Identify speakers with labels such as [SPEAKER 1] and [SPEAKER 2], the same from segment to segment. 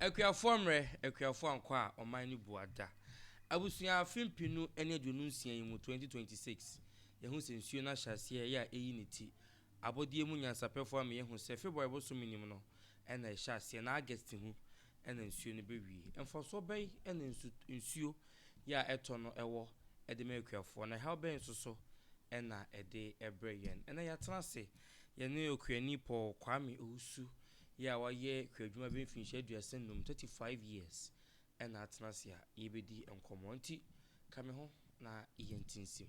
[SPEAKER 1] Akuafo ammrɛ, Akuafo ankɔ a ɔman no bu ada. Abusua afe mpenu ne aduonu nsia yi mu 2026 Yɛahu sɛ nsuo no ahyɛaseɛ yɛ a ɛyi ne ti Abɔdeɛ mu nyansapɛfoɔ ama yɛahu sɛ February bosome no mu no na ɛhyɛ aseɛ na August ho na nsuo no bɛwie Mfasoɔ bɛn na nsu nsuo yɛ a ɛtɔ no wɔ de ma akuafoɔ na ɛhaw bɛn nso so na ɛde brɛ yɛn Ɛnnɛ yɛatena ase yɛne Okuani Paul Kwame Owusu Yɛ a wayɛ kuadwuma bɛyɛ mfinhyia aduasa nnum, thirty five years, na atena ase a yɛbɛdi nkɔmmɔ. Nti ka me ho na yɛntinsim.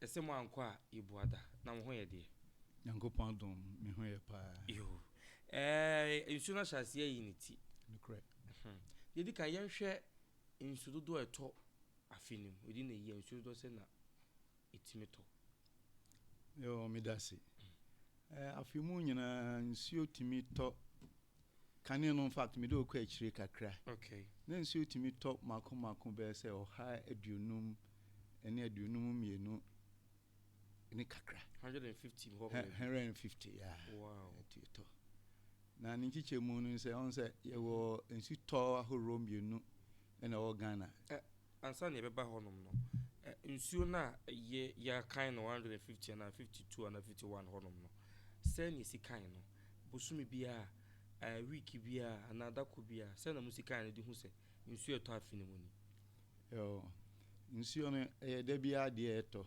[SPEAKER 1] Na sɛ mo ankɔ a yebua da. Na wo ho yɛ deɛ. Nyankopɔn adom
[SPEAKER 2] me ho yɛ paa. Yoo
[SPEAKER 1] eeh nsuo no ahyɛ aseɛ ayi ne ti. Nokorɛ.
[SPEAKER 2] Deɛ edi
[SPEAKER 1] kan yɛnhwɛ nsu dodoɔ a ɛtɔ afe no mu. Within a year nsuo dodoɔ sɛn na etumi tɔ?
[SPEAKER 2] Yoo medase. Afe mu nyinaa nsuo tumi tɔ. Kane no infact mede wo kɔ akyire kakra na nsuo
[SPEAKER 1] tumi
[SPEAKER 2] tɔ mako mako bɛyɛ sɛ ɔha aduonum ne aduonum mmienu ne kakra. Hundred and fifty hɔ.
[SPEAKER 1] Hundred and fifty
[SPEAKER 2] yaa. Wow. Ɛtumi tɔ na ne nkyekyɛ mu no sɛ ɔn sɛ yɛwɔ nsu tɔ ahoroɔ mmienu ɛna ɛwɔ Ghana. Ansa na yɛbɛba
[SPEAKER 1] hɔnom no, nsuo no a yɛ, yɛakan no one hundred and fifty anaa fifty two anaa fifty one hɔnom no, sɛn na yɛsi kae no? Bosome biara, ɛɛ, week biara anaa da koro biara, sɛn na mosi kae no de hu sɛ nsuo a ɛtɔ afe no mu ni? Ɛwɔ.
[SPEAKER 2] Nsuo no, ɛyɛ da biara adeɛ a ɛtɔ.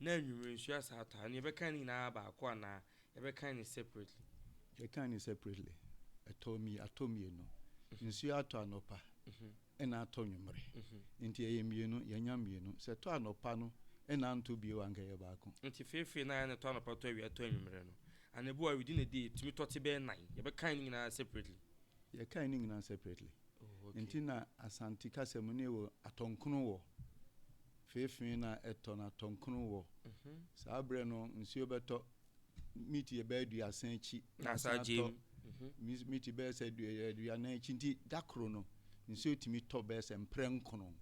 [SPEAKER 1] na anwummerɛ nsuo asan atɔ a, ɛnneɛ yɛbɛkan ne nyinaa baako anaa yɛbɛkan no separately? Yɛkan no
[SPEAKER 2] separately. Ɛtɔ mmi, atɔ mmienu. Nsuo atɔ anɔpa ɛna atɔ anwummerɛ. Nti ɛyɛ mmienu, yɛanya mmienu. Sɛ ɛtɔ anɔpa no na antɔ bio a, anka ɛyɛ baako. Nti feefee no ayɛ no ɛtɔ
[SPEAKER 1] anɔpa, ɛtɔ awia, ɛtɔ anwummerɛ no, anadwo a ɔredi ne deɛ, ɛtumi tɔ te bɛyɛ nnan. Yɛbɛkan ne nyinaa separately? Yɛkan ne nyinaa
[SPEAKER 2] separately. Nti na Asante kasa mu no yɛ wɔ atɔnkron wɔ, feefee na ɛtɔ no atɔnkron wɔ. Saa berɛ no nsuo bɛtɔ miti yɛ bɛyɛ aduasa akyi na asan atɔ
[SPEAKER 1] miti
[SPEAKER 2] bɛyɛ sɛ aduanan akyi nti da koro no nsuo tumi tɔ bɛyɛ sɛ mprɛ nkono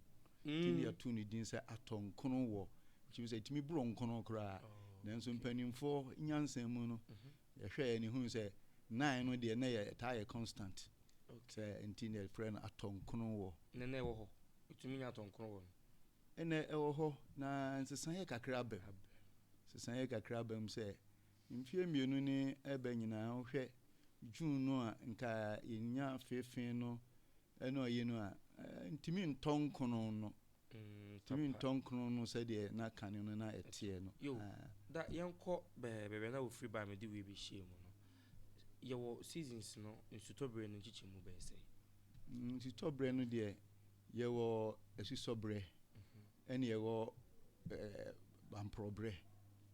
[SPEAKER 2] nti ne yɛto ne din sɛ atɔnkron wɔ kyimi sɛ tumi borɔ nkono koraa nanso mpanimfoɔ nyansa mu no yɛhwɛ yɛ ne hunu sɛ nine no deɛ na yɛ ɛtaa yɛ constant Sɛ nti na yɛfrɛ no atɔnkron wɔ. Nnɛ na ɛwɔ hɔ.
[SPEAKER 1] Wotumi nya atɔnkron wɔ no. Nnɛ ɛwɔ
[SPEAKER 2] hɔ, na nsesaeɛ kakra aba mu. Nsesaeɛ kakra aba mu sɛ mfeɛ mmienu ne ɛreba nyinaa wohwɛ June no a nka yɛnya feefee no ne ɔyi no a, ntumi ntɔ nkron no. Ntumi ntɔ nkron no sɛdeɛ na kane no na ɛteɛ no. Yo, da yɛnkɔ
[SPEAKER 1] bɛɛ bɛbɛ na wɔfiri baa me de wei bɛhyɛɛ mu no. Yɛwɔ seasons no nsutɔberɛ no nkyekyɛmu bɛyɛ sɛn? Nsutɔberɛ
[SPEAKER 2] no deɛ yɛwɔ asusɔberɛ ɛne yɛwɔ bamporɔberɛ.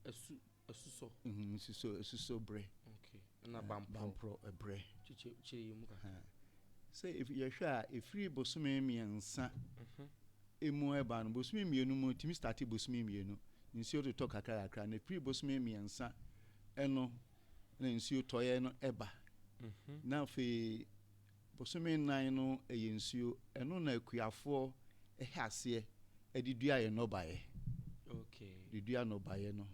[SPEAKER 2] Asu asusɔ. Nsusɔ asusɔberɛ. Okay. Na
[SPEAKER 1] bamporɔ. Bamporɔberɛ. Kyekyɛ
[SPEAKER 2] kyerɛ yɛn mu kakra.
[SPEAKER 1] Sɛ
[SPEAKER 2] yɛhwɛ a ɛfiri bosome mmiɛnsa ɛmu ɛba no bosome mmienu mu ɛtumi starte bosome mmienu nsuo totɔ kakra kakra na ɛfiri bosome mmiɛnsa ɛno na nsuo tɔeɛ no ba. Na afei bosome nnan no yɛ nsuo, ɛno na akuafoɔ hyɛ aseɛ de dua yɛ nnɔbaeɛ.
[SPEAKER 1] De dua nnɔbaeɛ
[SPEAKER 2] no,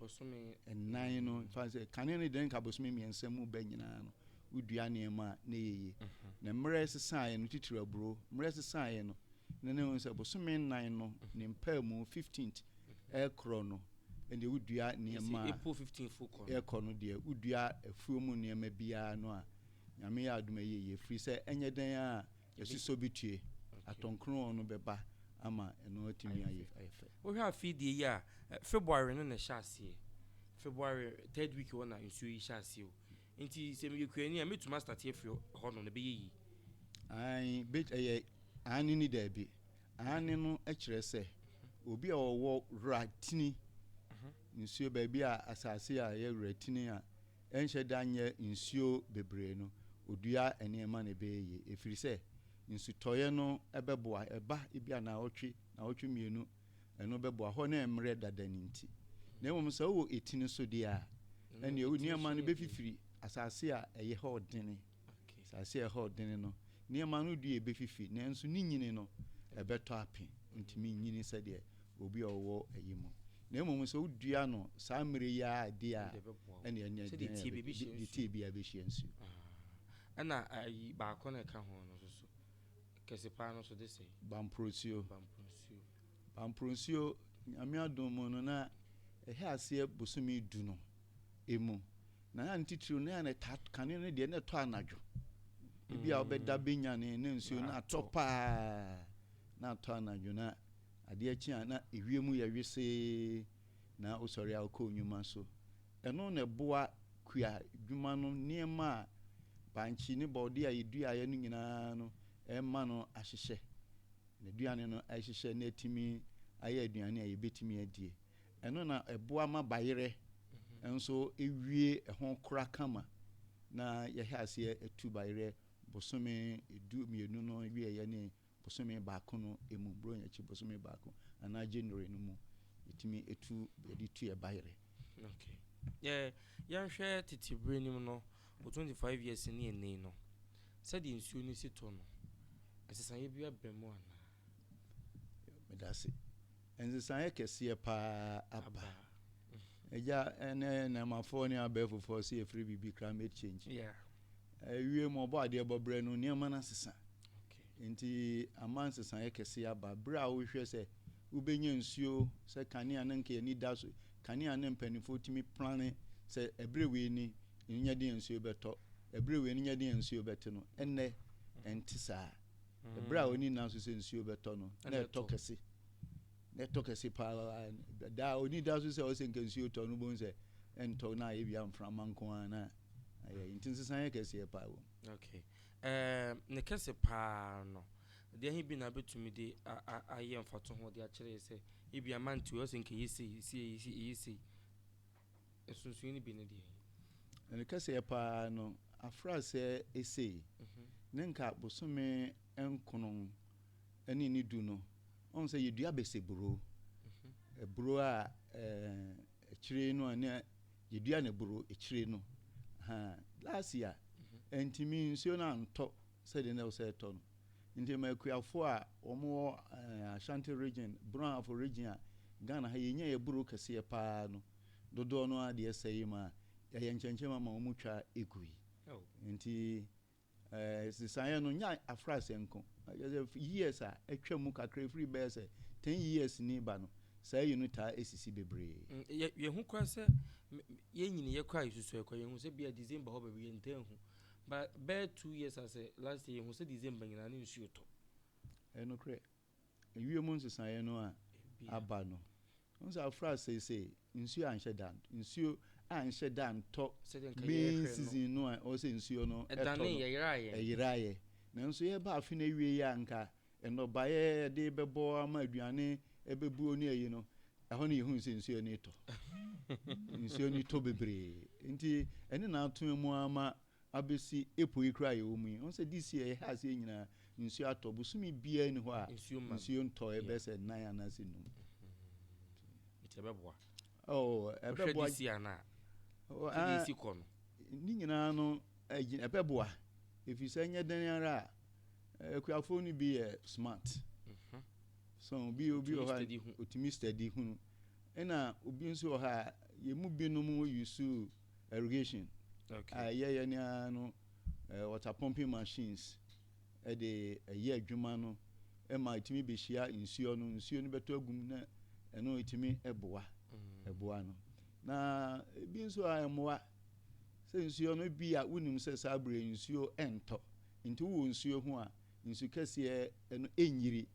[SPEAKER 2] nnan
[SPEAKER 1] no, fa
[SPEAKER 2] sɛ kane no deɛ nka bosome mmiɛnsa mu bɛ nyinaa no, wodua nneɛma a na ɛyɛ yie. Na mmerɛ ɛsesaeɛ no, titiri aburo, mmerɛ ɛsesaeɛ no, na na ɛhu sɛ bosome nnan no ne mpaamu, 15th, Ɛrekorɔ no, ɛnneɛ wodua nneɛma a ɛrekɔ no deɛ, wodua afuo mu nneɛma biara no a, Nyame yɛ adom a ɛyɛ yie, firi sɛ ɛnyɛ dɛn ara a, asusɔ bi tue, atɔnkrɔn no bɛba ama ɛno atumi ayɛ fɛ. Wohwɛ afei deɛ yi
[SPEAKER 1] a, February no na ɛhyɛ aseɛ, February third week hɔ na nsuo yi hyɛ aseɛ o, nti sɛ meyɛ kuani a, mɛtumi a starte afiri hɔ nom no, ɛbɛyɛ yie? Aane,
[SPEAKER 2] ɛyɛ aane ne daabi. Aane no kyerɛ sɛ, obi a ɔwɔ weratini, nsuo, baabi a asase a ɛyɛ weratini a ɛnhyɛ da nyɛ nsuo bebree no, ɔdua nneɛma na ɛbɛyɛ yie, ɛfiri sɛ nsutɔeɛ no bɛboa, ɛba ebia nnawɔtwe, nnawɔtwe mmienu, ɛno bɛboa, hɔ no ɛremmrɛ dada no nti. Na mmom sɛ wowɔ etini so deɛ a, ɛnneɛ nneɛma no bɛfifiri asase a ɛyɛ hɔ dene. Asase a ɛhɔ den no, nneɛma no dua befifi, nanso ne nyini no, ɛbɛtɔ ape. Entumi nnyini sɛdeɛ obi a ɔwɔ ayi mu. Na mmom sɛ wodua no saa mmerɛ yi ara a, deɛ a, ɛnneɛ nea ɛbɛtɔ ape no bɛtumi ayi.
[SPEAKER 1] Deɛ ɛteɛ biara bɛhyia nsuo.
[SPEAKER 2] Ɛna
[SPEAKER 1] ayi baako no a ɛka ho no nso so, kɛse pa ara no nso de sɛn? Bamporɔnsuo. Bamporɔnsuo.
[SPEAKER 2] Bamporɔnsuo, Nyame adom mu no, na ɛhyɛ aseɛ bosome du no. mu. Na ne titiriw no, na ɛtaa kane no deɛ na ɛtɔ anadwo. Ebi a wobɛda bɛnyane na nsuo no atɔ paa na atɔ anadwo na adeɛ kye a na ewiem yɛ wesee na wosɔre a wokɔ nnwuma so. Ɛno na ɛboa kua dwuma no nneɛma a bankye ne borɔdeɛ a yɛduaeɛ no nyinaa no ɛma no ahyehyɛ. N'aduane no ahyehyɛ na atumi ayɛ aduane a yɛbɛtumi adie. Ɛno na ɛboa ma bayerɛ nso wie ho kora kama na yɛhyɛ aseɛ atu bayerɛ bosome du mmienu no wieɛ ne bosome baako no mu, Buronya akyi bosome baako anaa January no mu yɛtumi tu yɛde tu yɛ bayerɛ. Okay.
[SPEAKER 1] Yeah, yɛnhwɛ tete berɛ nim no wɔ 25 years ne ɛnɛ no sɛdeɛ nsuo no si tɔ no ɛsesaeɛ bi aba mu anaa?
[SPEAKER 2] medase nsesaeɛ kɛseɛ paa aba ɛgya ɛnɛ nɛɛmafoɔ ne abɛɛfofoɔ sɛ yɛfiri biribi climate change ɛwie mu ɔbɔ adeɛ bɔberɛ no nneɛma no asesa nti ama nsesaeɛ kɛseɛ aba berɛ a wohwɛ sɛ wobɛnya nsuo sɛ kanea no nka yɛni da so kanea ne mpanimfoɔ tumi plane sɛ ɛberɛ wei ni nyɛ deɛ nsuo bɛtɔ ɛberɛ wei no nyɛ deɛ nsuo bɛte no ɛnnɛ ɛnte saa Ɛberɛ a ɔnni nna nso sɛ nsuo bɛtɔ no, na ɛtɔ kɛse. Na ɛtɔ kɛse paa daa ɔnni da nso sɛ ɔsɛ nka nsuo tɔ no bom sɛ ɛntɔ na ayɛ bia mframa nko ara na ayɛ nti nsesan yɛ kɛseɛ paa wɔ mu. Okay. Eh,
[SPEAKER 1] ne kɛse paa no, deɛ he bi na bɛtumi de ayɛ mfatoho de akyerɛ sɛ ebia mantew ɔsɛ nka ɛyɛ sei, ɛsɛ ɛyɛ sei. Nsonsonoe no bi ne deɛn? Na ne kɛseɛ
[SPEAKER 2] pa ara no, afraseɛ esei, ne nka bosome nkron ne ne du no, ɔhu sɛ yɛdua bese buro, buro a akyire no a na yɛdua no buro akyire no, last year, ɛntumi nsuo no antɔ. sɛdeɛ na ɛwɔ sɛ ɛtɔ no. Nti ma akuafoɔ a wɔn wɔ Ashanti region, Brɔhafo region a Ghana ha yɛnya yɛ buro kɛseɛ paa no dodoɔ no ara deɛ ɛsɛ yi ma yɛayɛ nkyɛnkyɛm ama wɔn twa ɛgu yi. Nti sesaeɛ no nyɛ afraseɛ nko, kyerɛ sɛ years a atwa mu kakra ɛfiri bɛyɛ sɛ 10 years ni ba no saa yi no taa ɛsisi bebree. Yɛhu koraa
[SPEAKER 1] sɛ yɛnyiniiɛ koraa yɛsusuae koraa yɛhu sɛ bia December hɔ baabi yɛntaa hu. But bɛyɛ two years asɛ last year yɛhu sɛ December nyinaa ne nsuo tɔ. Ɛyɛ nokorɛ.
[SPEAKER 2] Ewiem nsesaeɛ no a aba no, wohu sɛ afra seisei nsuo anhyɛ da ntɔ, nsuo anhyɛ da ntɔ main season no a ɛwɔ sɛ nsuo no tɔ no,
[SPEAKER 1] ɛyeraeɛ.
[SPEAKER 2] Nanso yɛreba afe no awieɛ a nka Nnɔbaeɛ a yɛde bɛbɔ ama aduane, ɛbɛbuo ne ayi no, ɛhɔ no yɛhunu sɛ nsuo ani tɔ. nsuo ani tɔ bebree. Nti ɛne na atena mu ara ma abɛsi epo yi koraa a yɛwɔ mu yi. Ɔn sɛ this year yɛhɛ aseɛ nyinaa nsuo atɔ. Bosome biara nni hɔ a nsuo ntɔ, ɛbɛyɛ sɛ nan anaasɛ num. Nti
[SPEAKER 1] ɛbɛboa. Oh, ɛbɛboa. Wohwɛ this year no a, sɛdeɛ ɛsi kɔ no. Ne nyinaa
[SPEAKER 2] no ɛbɛboa. Ɛfiri sɛ ɛnyɛ dɛn ara a akuafoɔ no bi yɛ smart mhm. so obi obi wɔ hɔ otumi study hunu ɛna obi nso wɔ hɔ a yɛn mu binom yusu irrigation a ɛyɛ yɛ nea no water pumping machines ɛde ɛyɛ adwuma no ɛma etumi behyia nsuo no nsuo no bɛtɔ agum na ɛno etumi ɛboa mm. ɛboa no na ebi nso a ɛmoa sɛ nsuo no bi a wonim sɛ saa abirɛ nsuo ɛntɔ. Nti wowɔ nsuo ho a, nsu kɛseɛ no ɛnyiri.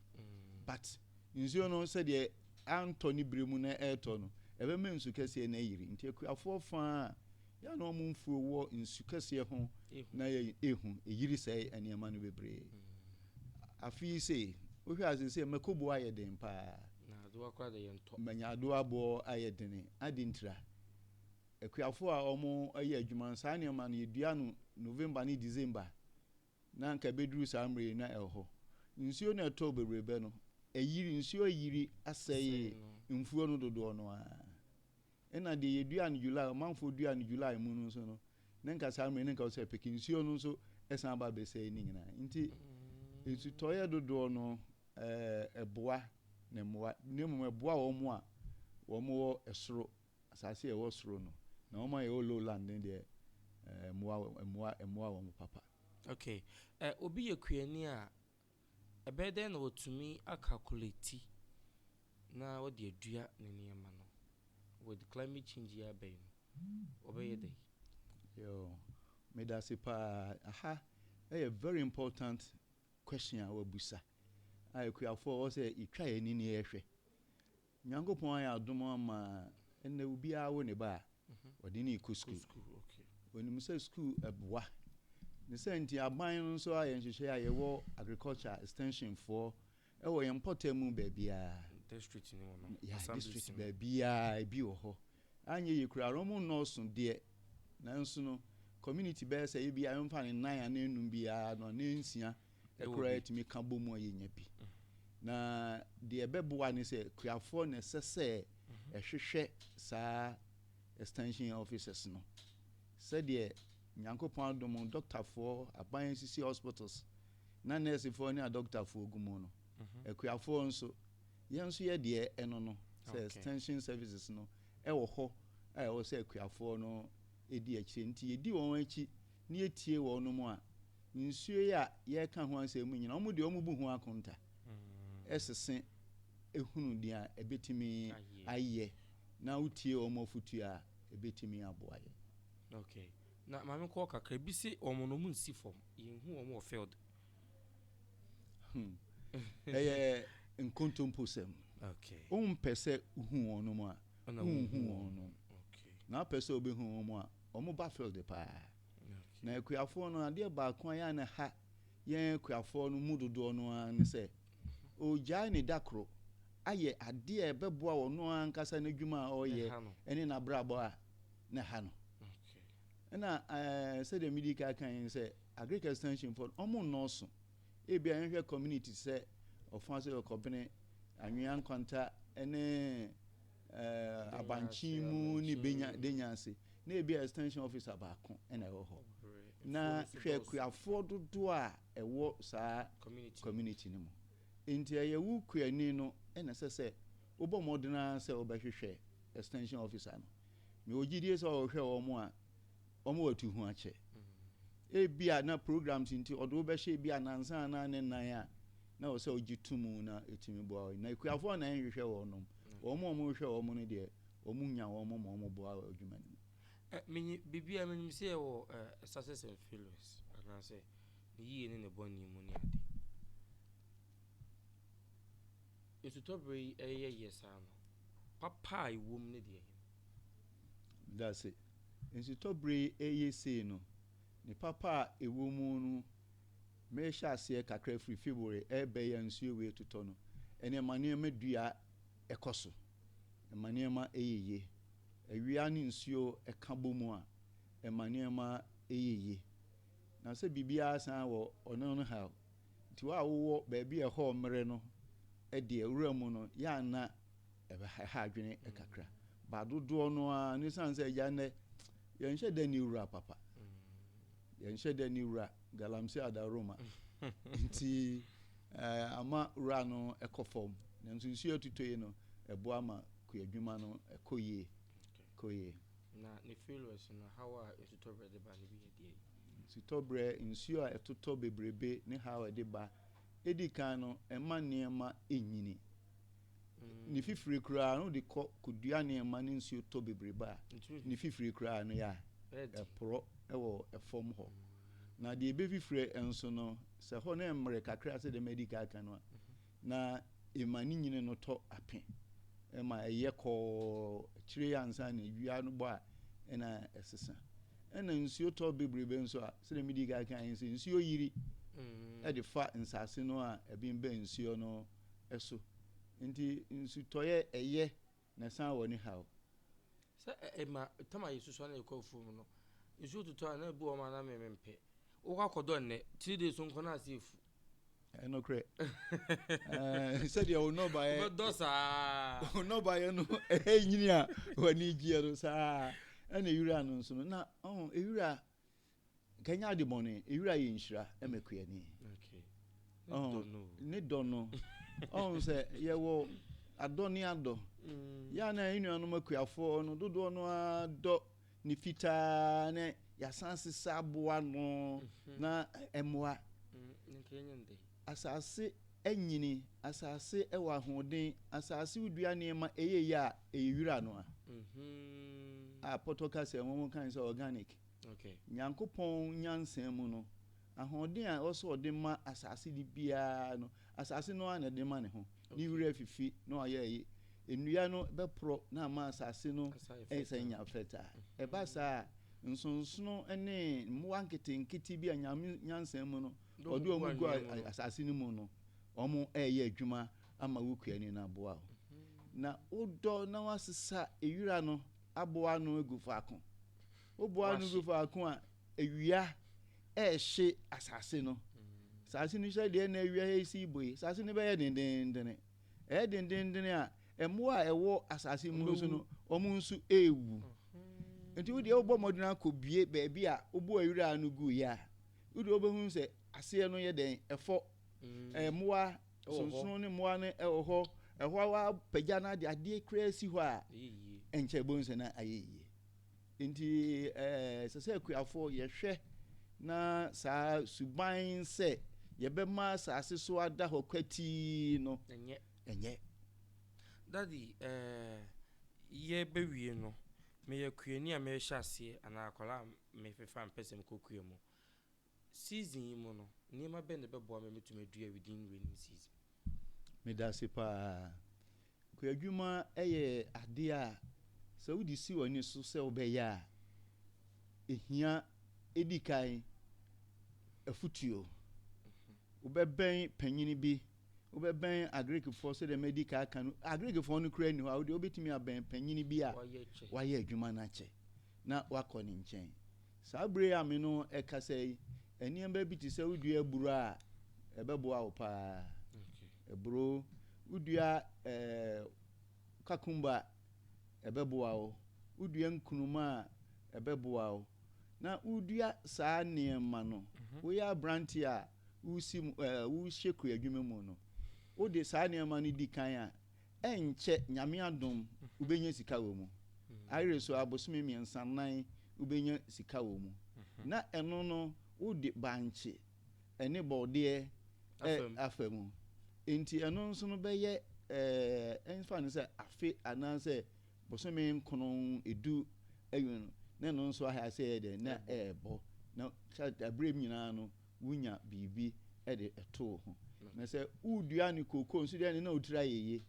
[SPEAKER 2] But nsuo no sɛdeɛ antɔ ne berɛ mu na ɛretɔ no, ɛbɛma nsu kɛseɛ no ayiri. Nti akuafoɔ fa a, yɛ a na wɔn mfuo wɔ nsu kɛseɛ ho na yɛ ɛhu, ɛyiri sɛe nneɛma no bebree. Afe yi sei, wohwɛ a seesei mako boɔ ayɛ den pa ara. Na adowa koraa deɛ
[SPEAKER 1] yɛntɔ. Manya adowa boɔ
[SPEAKER 2] ayɛ dene. Adentira? Akuafo a wɔyɛ adwuma no, saa nneɛma no, yedua no November ne December, na anka ebeduru saa mmere yi na ɛwɔ hɔ. Nsuo no a ɛtɔɔ bebree bɛ no, ayiri, nsuo ayiri asɛe mfuo no dodoɔ no ara. Ɛnna deɛ yedua no July, ɔmanfoɔ dua no July mu no nso no, na anka saa mmere yi na anka ɛwɔ sɛ ɛpeke. Nsuo no nso san ba bɛsɛe ne nyinaa. Enti nsutɔeɛ dodoɔ no, ɛboa ne mmoa, na mmom ɛboa wɔn a wɔwɔ soro Asase a ɛwɔ soro no, na wɔn a ɛwɔ lowland no deɛ, ɛɛ, mmoa, mmoa, mmoa wɔn papa. Okay,
[SPEAKER 1] ɛ, obi yɛ kuani a, ɛbɛyɛ dɛn na watumi akalkuleti na ɔde adua ne nneɛma no? With climate change yi aba yi no, ɔbɛyɛ dɛn? Yoo,
[SPEAKER 2] medase paa. Aha yɛ very important question a w'abusa a akuafoɔ ɛwɔ sɛ yɛtwa yɛn ani na yɛhwɛ. Nyankopɔn ayɛ adom ama ɛnɛ obiara wo ne ba a ɔde no rekɔ sukuu. Onim sɛ sukuu ɛboa. Ne sɛ nti aban no nso ayɛ nhyehyɛ a yɛwɔ agriculture extension foɔ ɛwɔ yɛn mpɔtam mu baabiara. District ne wɔ no.
[SPEAKER 1] Ya district
[SPEAKER 2] baabiara ebi wɔ hɔ. Anyɛ yie koraa no wɔn nnɔɔso deɛ nanso no community bɛyɛ sɛ ebi a yɛmfa no nnan anaa nnum biara no anaa nsia koraa yɛtumi ka bɔ mu a yɛnya bi. Na deɛ ɛbɛboa ne sɛ kuafoɔ na ɛsɛ sɛ ɛhwehwɛ saa extension officers no sɛdeɛ nyankopɔn adom dɔktafoɔ aban asisi hospitals na nɛɛsefoɔ ne adɔktafoɔ gu mu no mhm. akuafoɔ nso yɛn nso yɛ deɛ ɛno no sɛ extension services no ɛwɔ hɔ a ɛwɔ sɛ akuafoɔ no ɛdi akyire nti yɛdi wɔn akyi ne yɛtie wɔn no mu a Nsuo yi a yɛreka ho asɛm mu nyinaa, wɔn deɛ wɔn bu ho akonta ɛsese ehunu deɛ ebetumi ayɛ na wotie wɔn afutuo a ebetumi aboa yɛn. Okay.
[SPEAKER 1] Na maame kɔ kakra bi se wɔn no wɔn nsi fam yɛn hu wɔn wɔ field. Hmm.
[SPEAKER 2] Ɛyɛ nkontomposɛm. Okay. Wɔn mpɛ
[SPEAKER 1] sɛ
[SPEAKER 2] hu wɔn nom a. Wɔn hu wɔn nom. Okay. Na apɛ sɛ wɔbɛhu wɔn a wɔn ba field paa. Na akuafoɔ no, adeɛ baako a yɛ a na ha yɛn akuafoɔ no mu dodoɔ no ara ne sɛ, ɔgyae ne da koro ayɛ adeɛ a ɛbɛboa ɔno ankasa n'adwuma a ɔreyɛ ne n'abrabɔ a na ha no. Ɛna sɛdeɛ medi ka kan yi sɛ agric extension fɔ ɔmo nnɔɔso ebi a yɛhwɛ community sɛ ɔfo ase ɔkɔbene anwea nkwanta ne abankyen mu ne benya denya ase na ebi a extension officer baako na ɛwɔ hɔ na hwɛ akuafoɔ dodoɔ a ɛwɔ saa community no mu nti ɛyɛ wo kuani no ɛna sɛ sɛ wobɔ mmɔden ara sɛ wobɛhwehwɛ extension officer no mewɔ gyidie sɛ ɔhwɛ wɔn a Wɔma watu ho akyɛ. Ebia na programs nti ɔde wo bɛhyɛ ebia nansa anaa ne nan a na ɛwɔ sɛ wogye to mu na ɛtumi boa wo. Na akuafoɔ na ɛnhwehwɛ wɔnom. Wɔn a wɔhwehwɛ wɔn no deɛ, wɔn nya wɔn ma wɔn boa wɔ adwuma no mu. Eh, menye
[SPEAKER 1] biribiara menim sɛ yɛwɔ eh, success and failures anaasɛ ne yie ne ne bɔne mu ne ade. Nsutɔberɛ yi ɛyɛ yɛ saa no, papa a ɛwom ne deɛ ɛhe no?
[SPEAKER 2] Meda ase. Nsutɔbere yi reyɛ sei no, ne papa a ɛwɔ mu no, merehyɛ aseɛ kakra firi February ɛrebɛn yi a nsuo wei retotɔ no, ɛnna ɛma nneɛma dua kɔ so. Ɛma nneɛma yɛ yie. Awia ne nsuo ka bɔ mu a, ɛma nneɛma yɛ yie. Na sɛ biribiara san wɔ ɔno no haw. Nti wo a wowɔ baabi a ɛhɔ mmere no deɛ, wura mu no, yɛ a na ɛha adwene kakra ba dodoɔ no ara ne sane sɛ agya nnɛ yɛnhyɛ da ne wura papa yɛnhyɛ da ne wura galamsey adaroma nti eh, ama wura no ɛkɔ fam nanso nsuo atuto yi no ɛboa ma kuadwuma no ɛkɔ yie kɔ yie na
[SPEAKER 1] ne failures no haw a ɛtotɔ berɛ de ba
[SPEAKER 2] no bi yɛ deɛ ɛtotɔ berɛ nsuo a ɛtotɔ bebrebe ne haw a ɛde ba edi kan no mma nneɛma nnyini. Ne fifire koraa no de kɔ kodua nneɛma ne nsuo tɔ bebrebe a, ne fifire koraa no yɛ a ɛporɔ wɔ fam hɔ. Na deɛ ɛbɛfifire nso no, sɛ hɔ no mmere kakra sɛ deɛ madi kan aka no a, na Ema ne nyini no tɔ ape. Ɛma ɛyɛ kɔɔ. Akyire yi ansa na awia no bɔ a, ɛna ɛsesa. Ɛna nsuo tɔ bebrebe nso a, sɛdeɛ medii kan kaeɛ no, sɛ nsuo yiri de fa nsase no a, ɛbembɛn nsuo no so. Enti nsutɔeɛ ɛyɛ. Na san wɔ ne haw. Sɛ
[SPEAKER 1] ɛma tam a yɛsusua na yɛkɔ afuo mu no, nsuo totɔ a, na ebi wɔ hɔ a na me mempɛ. Wokɔ akɔdɔ nnɛ, three days nko na ase afu. Ɛyɛ nokorɛ.
[SPEAKER 2] Ɛɛ sɛdeɛ wo nnɔbaeɛ. Wobɛdɔ saa.
[SPEAKER 1] Wo nnɔbaeɛ no
[SPEAKER 2] ɛnyini a w'ani gyeɛ no saa ɛna ewira no nso no na ɔho ewira Kanya ade bɔne, ewira yɛ nhyira ma kuani. Ne dɔ no, ɔhu sɛ yɛwɔ adɔ ne adɔ. Mm. Yɛ a na yɛn nuanom akuafoɔ no dodoɔ no ara dɔ ne fitaa ne yɛasan sesa aboa no mhm. na ɛmmoa. Mm, asase anyini, asase ɛwɔ ahoɔden, asase wodua nneɛma ɛyɛ yɛ a ɛyɛ wira no a. Mhm. A pɔtɔ ka sɛ wɔn kan sɛ organic. Nyankopɔn nyansa mu no, ahoɔden a ɛwɔ sɛ ɔde ma asase no biara no, asase no ara na ɛde ma ne ho. Ne wira afifi na wayɛ ayi. Nnua no bɛporɔ na ama asase no asan anya fertile. Ɛba saa a, nsonsono ne mmoa nketenkete bi a Nyame nyansa mu no, ɔde wɔn gu asase no mu no, wɔreyɛ adwuma ama wo kua ani no aboa wo. Na wodɔ na woasesa wira no. aboa ano agu faako. Woboa ano gu faako a, awia rehye asase no. Asase no hyɛ deɛ na awia resi bue. Asase no bɛyɛ dendendene. Ɛyɛ dendendene a, mmoa a ɛwɔ asase mu nso no, wɔn nso rewu. Nti wo deɛ wobɔ mmɔden akɔbue baabi a woboa awira ano guiɛ a, wodeɛ wobɛhu sɛ aseɛ no yɛ dɛn? Ɛfɔ. Mmoa wɔ hɔ. Sonsono ne mmoa no wɔ hɔ. Ɛhɔ ara wapagya no de adeɛ koraa si hɔ a, ɛnkyɛ ɛbɛhu sɛ na ayɛ yie. Nti ɛsɛ sɛ akuafoɔ yɛhwɛ na saa suban sɛ yɛbɛma asase so ada hɔ kwatii no, ɛnyɛ.
[SPEAKER 1] Daddy, ɛɛ, yɛbɛwie no, meyɛ kuani a merehyɛ aseɛ anaa akwadaa a mefefa mpɛ sɛ mekɔ kua mu. Season yi mu no, nneɛma bɛn na ɛbɛboa me matumi adua within rainy season? Medase
[SPEAKER 2] paa. Kuadwuma yɛ ade a sɛ wode si w'ani so sɛ wobɛyɛ a, ehia edi kan afotuo. Wobɛbɛn panyin bi. wobɛbɛn Agirikfoɔ sɛdeɛ madi ka aka no, Agirikfoɔ no koraa nni hɔ a, wodeɛ wobɛtumi abɛn panyini bi a wayɛ adwuma no akyɛ na wakɔ ne nkyɛn. Saa berɛ yi a me no ɛkasa yi, nneɛma bi te sɛ wodua aburo a, ɛbɛboa wo paa. Aburo, wodua eh, kakumba, ɛbɛboa wo. Wodua nkruma a, ɛbɛboa wo. Na wodua saa nneɛma no, mhm. woyɛ aberanteɛ a, woresi mu ɛ, worehyɛ kuadwuma mu no, wode saa nneɛma no di kan a, ɛnkyɛ, Nyame adom, wobɛnya sika wɔ mu. Ayere so ara, bosome mmiɛnsa, nnan, wobɛnya sika wɔ mu. Na ɛno no, wode bankye ne borɔdeɛ ɛ, afa mu. Enti ɛno nso no bɛyɛ ɛ, ɛmfa no sɛ afe anaasɛ bosome nkron, edu awieeɛ no, na ɛno nso ayɛ a sɛ ɛyɛ dɛn, na ɛrebɔ. Na kyɛre, berɛ mu nyinaa no, wunya biribi de to wo ho. Na sɛ wudua ne kokoo nso deɛ ne na wo tiri ayɛ yie.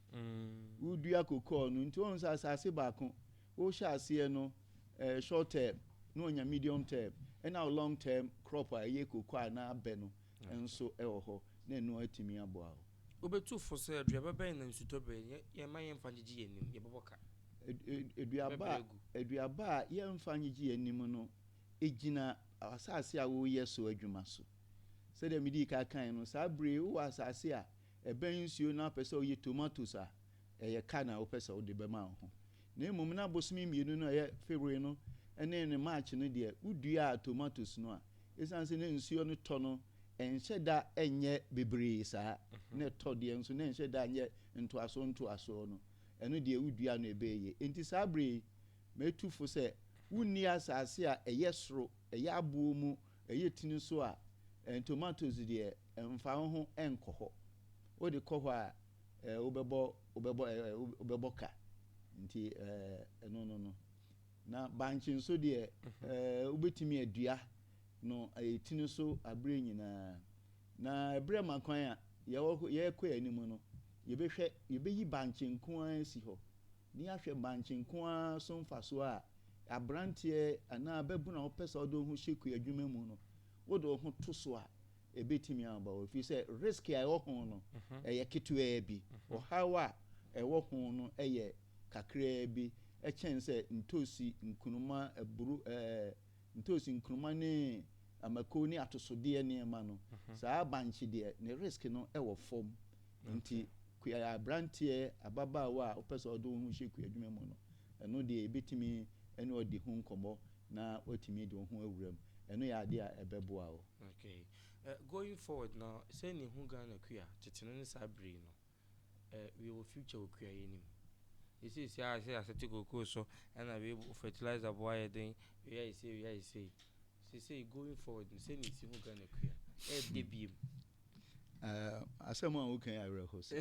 [SPEAKER 2] Wodua kokoo no nti wohu sɛ asase baako wohyɛ aseɛ no eh, short term na wonya medium term ɛna wo long term crop a ɛyɛ kokoo a na abɛ no nso wɔ hɔ na ɛno atumi aboa wo. Wobɛtu fo sɛ
[SPEAKER 1] aduaba bɛn na nsutɔ bɛn yɛmma yɛmfa ngyegye yɛn anim, yɛbɛbɔ ka, Aduaba bɛbrɛ a agu. aduaba a yɛmfa ngyegye yɛn anim no Egyina asase a woreyɛ so adwuma so. Sɛdeɛ medii kan kaeɛ no, saa berɛ yi wowɔ asase a ɛbɛn nsuo na wopɛ sɛ woyɛ tomatoes a, ɛyɛ ka na wopɛ sɛ wode bɛma wo ho. Na mmom na bosome mmienu no a ɛyɛ February no ne ne March no deɛ, woduaa tomatoes no a, ɛsiane sɛ na nsuo no tɔ no, ɛnhyɛ da nyɛ bebree saa, na ɛtɔ deɛ nso na ɛnhyɛ da nyɛ ntoasoɔ ntoasoɔ no, ɛno deɛ woduaa no ɛbɛɛ yie. Enti saa berɛ yi, Metu fo sɛ wonni asase a ɛyɛ soro, ɛyɛ aboɔ mu, ɛyɛ tini so a, ntomatoes deɛ mfa wo ho nkɔ hɔ. Wode kɔ hɔ a, eh, wobɛbɔ, wobɛbɔ, eh, eh, wobɛbɔ ka. Nti, eh, ɛno no no.
[SPEAKER 2] Na bankye nso deɛ, mhm. eh, wobɛtumi adua no, ɛyɛ tini so aberɛ nyinaa. Na ɛberɛ ma kwan a, yɛwɔ, yɛrekɔ yɛn anim no, yɛbɛhwɛ, yɛbɛyi bankye nko ara asi hɔ. Ne ahwɛ bankye nko ara so mfasoɔ a, aberanteɛ anaa babunu a wopɛ sɛ wode wo ho hyɛ kua adwuma mu no, wode wo ho to so a, ɛbɛtumi aba hɔ. Ɛfiri sɛ, risk a ɛwɔ ho no, ɛyɛ ketewaa bi. Ɔhaw a ɛwɔ ho no yɛ kakraa bi kyɛn sɛ ntoosi, nkruma, aburo, ɛɛ. ntoosi, nkruma ne amako ne atosodeɛ nneɛma no, saa bankye deɛ ne risk no wɔ fam. Nti kua abranteɛ, ababaawa a wopɛ sɛ ɔde wo ho hyɛ kua adwuma mu no, ɛno deɛ yɛbɛtumi ne wo adi ho nkɔmmɔ na woatumi de wo ho awura mu. Ɛno yɛ adeɛ a ɛbɛboa wo. Okay.
[SPEAKER 1] Going forward no, sɛ ne hu Ghana kua, tete no ne saa bere yi no, Eh, wei wɔ future wɔ kua yi anim. Yɛ seesei ara sɛ yɛasɛte kookoo so na wei bo fertilizer bo ayɛ den, wei ayɛ sei, wei ayɛ sei. Seesei going forward no, sɛnea ɛsi hu Ghana kua, ɛɛdɛ biom. Eh, asɛm
[SPEAKER 2] a woka yi awerɛho sɛ.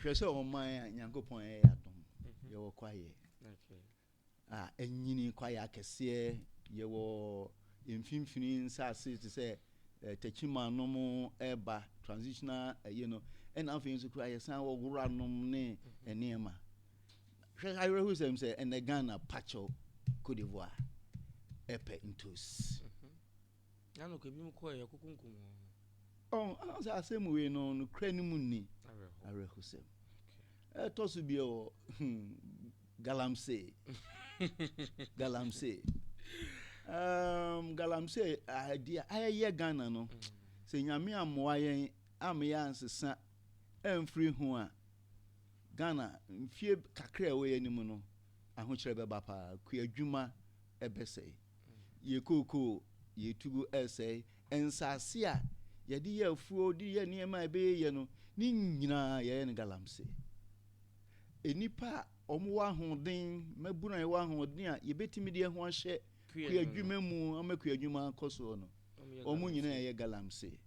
[SPEAKER 2] Hwɛ sɛ ɔman a Nyankopɔn ayɛ yɛ adom, mhm. yɛwɔ kwaeɛ. Okay. a anyini, kwaeɛ akɛseɛ, yɛwɔ mfimfini nsase te sɛ eh, Techiman nom ɛreba transitional ɛyi no ɛna afei nso kura yɛsan wɔ wora nom ne nneɛma hwɛ awerɛho sɛm sɛ ɛnɛ Ghana pakyɛw Cote d'Ivoire ɛpɛ ntos. Mm -hmm.
[SPEAKER 1] Na nokorɛ binom kɔɔɛ yɛkɔkunkum wɔn no. Ɔn,
[SPEAKER 2] anaa sɛ asɛm wei no nokorɛ no mu nni awerɛhosɛm? Ɛtɔ so bio wɔ Galamsey, Galamsey, um, Galamsey adi a ayɛyɛ Ghana no, sɛ Nyame ammoa yɛn ama yɛansesa amfiri ho a, Ghana mfie kakra a ɛwɔ yɛn anim no, ahokyerɛ bɛba paa, kuadwuma bɛsɛe. Yɛkookoo, yɛretu gu resɛe nsase a yɛde yɛ afuo de yɛ nneɛma a ɛbɛyɛ yie no, ne nyinaa yɛyɛ no galamsee. Nnipa a wɔwɔ ahoɔden, mmabunu a yɛwɔ ahoɔden a yɛbɛtumi de yɛn ho ahyɛ kuadwuma mu ama kuadwuma akɔ soɔ no, wɔn nyinaa yɛ galamsee.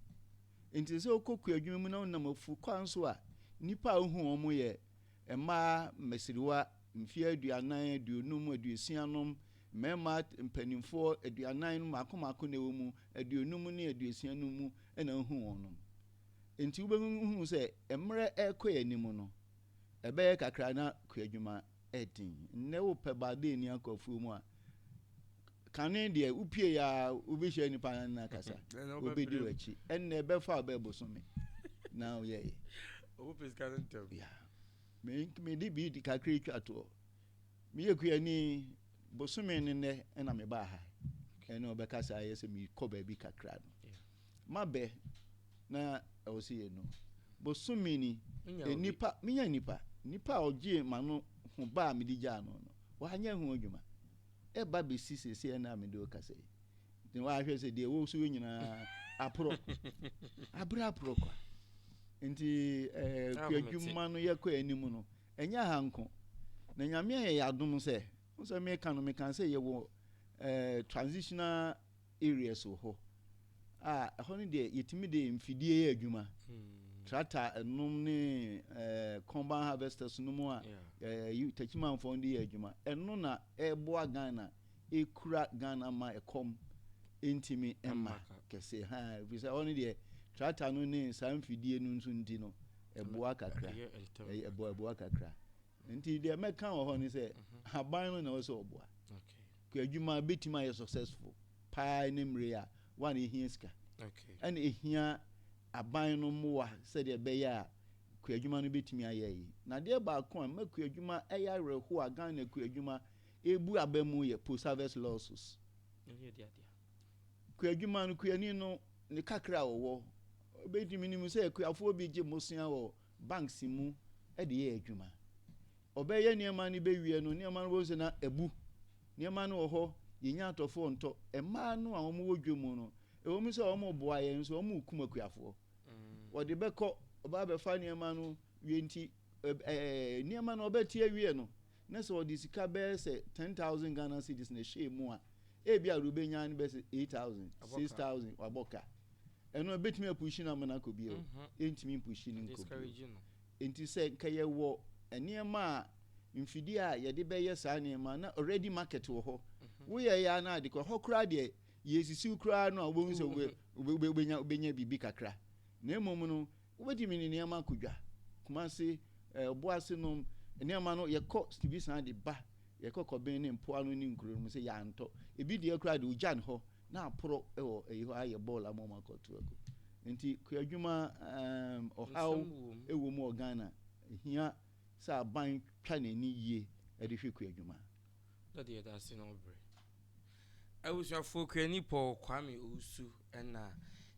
[SPEAKER 2] Enti sɛ wokɔ kuadwuma mu na wonam afuo kwan so a, nnipa a wohu wɔn yɛ mmaa mmasiriwa, mfeɛ aduanan, aduonum, aduosia nom, Mmarima mpanimfoɔ aduanan no mmaako mmaako na ɛwɔ mu, aduonum ne aduosia no mu na wohu wɔnom. Enti wobɛhunu sɛ mmerɛ rekɔ yɛn anim no, ɛbɛyɛ kakra na kuadwuma ɛden. Nnɛ wopɛ Baldini akɔ afuo mu a, kane deɛ wopie yɛ a wobɛhyia nnipa no na akasa, wobɛdi w'akyi. Ɛnnɛ ɛbɛfa wo bɛɛ bosome na woyɛyɛ. Ɔmo pɛ sika
[SPEAKER 1] no ntɛm. Yeah.
[SPEAKER 2] Me, mede bi kakra twa toɔ. Meyɛ kuani bosome ne nnɛ na mebaa ha ɛne ɔbɛka saa yɛ sɛ mekɔ baabi kakra no mabɛ na ɛwɔ sɛ yɛ no bosome ni nipa menya nipa nipa a ɔgyee ma no ho ba a mede gyaa no no wanyɛ ho adwuma ɛba bɛsi sɛsɛ ɛna a mede ɔkasa yi ne wahwɛ sɛ deɛ wɔ so yɛ nyinaa aporɔ aberɛ aporɔ kwa nti eh, kuadwuma no yɛkɔ anim no Ɛnyɛ ha nko, na Nyame ayɛ yɛn adom sɛ, wohu sɛ meka no, meka sɛ yɛwɔ transitional areas wɔ hɔ a, ɛhɔ no deɛ yɛtumi de mfidie yɛ adwuma, tractor nom ne combine harvesters nom a Takyimanfoɔ de yɛ adwuma, ɛno na ɛboa Ghana ɛkura Ghana ma ɛkɔm ntumi mma kɛse ha ɛfiri sɛ hɔ no deɛ tractor no ne saa mfidie no nso nti no ɛboa kakra ɛboa ɛboa kakra nti deɛ mɛka wɔ hɔ no sɛ mhm. aban no na ɛwɔ sɛ ɔboa kɔ adwuma bɛtumi ayɛ successful paa ne mmere a wa na ɛhia sika ɛna ɛhia aban no mmoa sɛdeɛ ɛbɛyɛ a kɔ adwuma no bɛtumi ayɛ yi na deɛ baako a mma kɔ adwuma ɛyɛ awerɛho a Ghana kɔ adwuma Ebu aba mu yɛ post harvest losses. Kua adwuma no kuani no ne kakra a ɔwɔ obedi menim sɛ kuafoɔ bi gye mosea wɔ banks mu de yɛ adwuma. Ɔbɛyɛ nneɛma no bɛwie no nneɛma no bɛhu sɛ na abu. Nneɛma no wɔ hɔ yɛnya atɔfoɔ ntɔ. Mmaa no a wɔn wɔ dwa mu no ɛwɔ mu sɛ wɔn boa yɛn nso wɔn rekum akuafoɔ. Wɔde bɛkɔ ɔbaa bɛfa nneɛma no wie nti ɛɛ nneɛma no ɔbɛte awie no na sɛ ɔde sika bɛyɛ sɛ ten thousand Ghana cedis na ɛhyɛɛ mu a, ebia deɛ ɔbɛnya no bɛyɛ sɛ eight thousand, six thousand, wabɔ ka. Ɛno ɛbɛtumi apushi no ama no akɔ bio, ɛntumi mpushi no nkɔ bio. Nti sɛ nka yɛwɔ nneɛma a mfidie a yɛde bɛyɛ saa nneɛma na already market wɔ hɔ, woyɛ yɛ ara na ade kɔ, ɛhɔ koraa deɛ yɛresisiw koraa no a wobɛhu sɛ wobɛnya biribi kakra. Na mmom no, Wobɛtumi ne nneɛma akɔ dwa, Kumasi, eh, Obuasi nom nneɛma no, yɛkɔ bi san de ba, yɛkɔ Kɔben ne mpoano ne nkuro no mu sɛ yɛantɔ. Ebi deɛ koraa de ogya ne hɔ na aporɔ wɔ ɛyi hɔ ayɛ bɔɔl ama wɔn akɔto agu. Nti kuadwuma um, ɔhaw wɔ mu wɔ Ghana. Ehia sɛ aban twa n'ani yie de hwɛ kuadwuma. dɔ deɛ ɛda
[SPEAKER 1] ase na ɔbrɛ. Abusuafoɔ okuani Paul Kwame Owusu na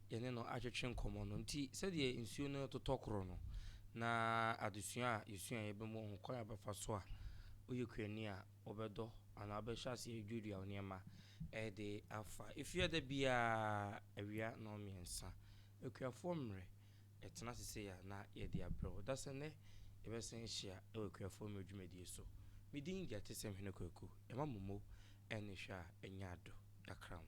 [SPEAKER 1] yɛne no atwetwe nkɔmmɔ no nti sɛdeɛ nsuo no retotɔ korɔ no na adesua a yɛsuaeɛ bɛmu ɔho kwan a wobɛfa so a woyɛ kuani a wobɛdɔ anaa wobɛhyɛ aseɛ aduadua wo nneɛma de afa efie da biara awia nnɔnmiɛnsa akuafoɔ mmerɛ Ɛtena ase sei a, na yɛde abrɛ wo. Da sɛ nnɛ, yɛbɛsan ahyia wɔ akuafoɔ mmerɛ dwumadie so. Me din de Atesɛm Hene Kwaku. Yɛma mo mo ɛne hwɛ a ɛnyɛ adɔ. Yɛakra mo.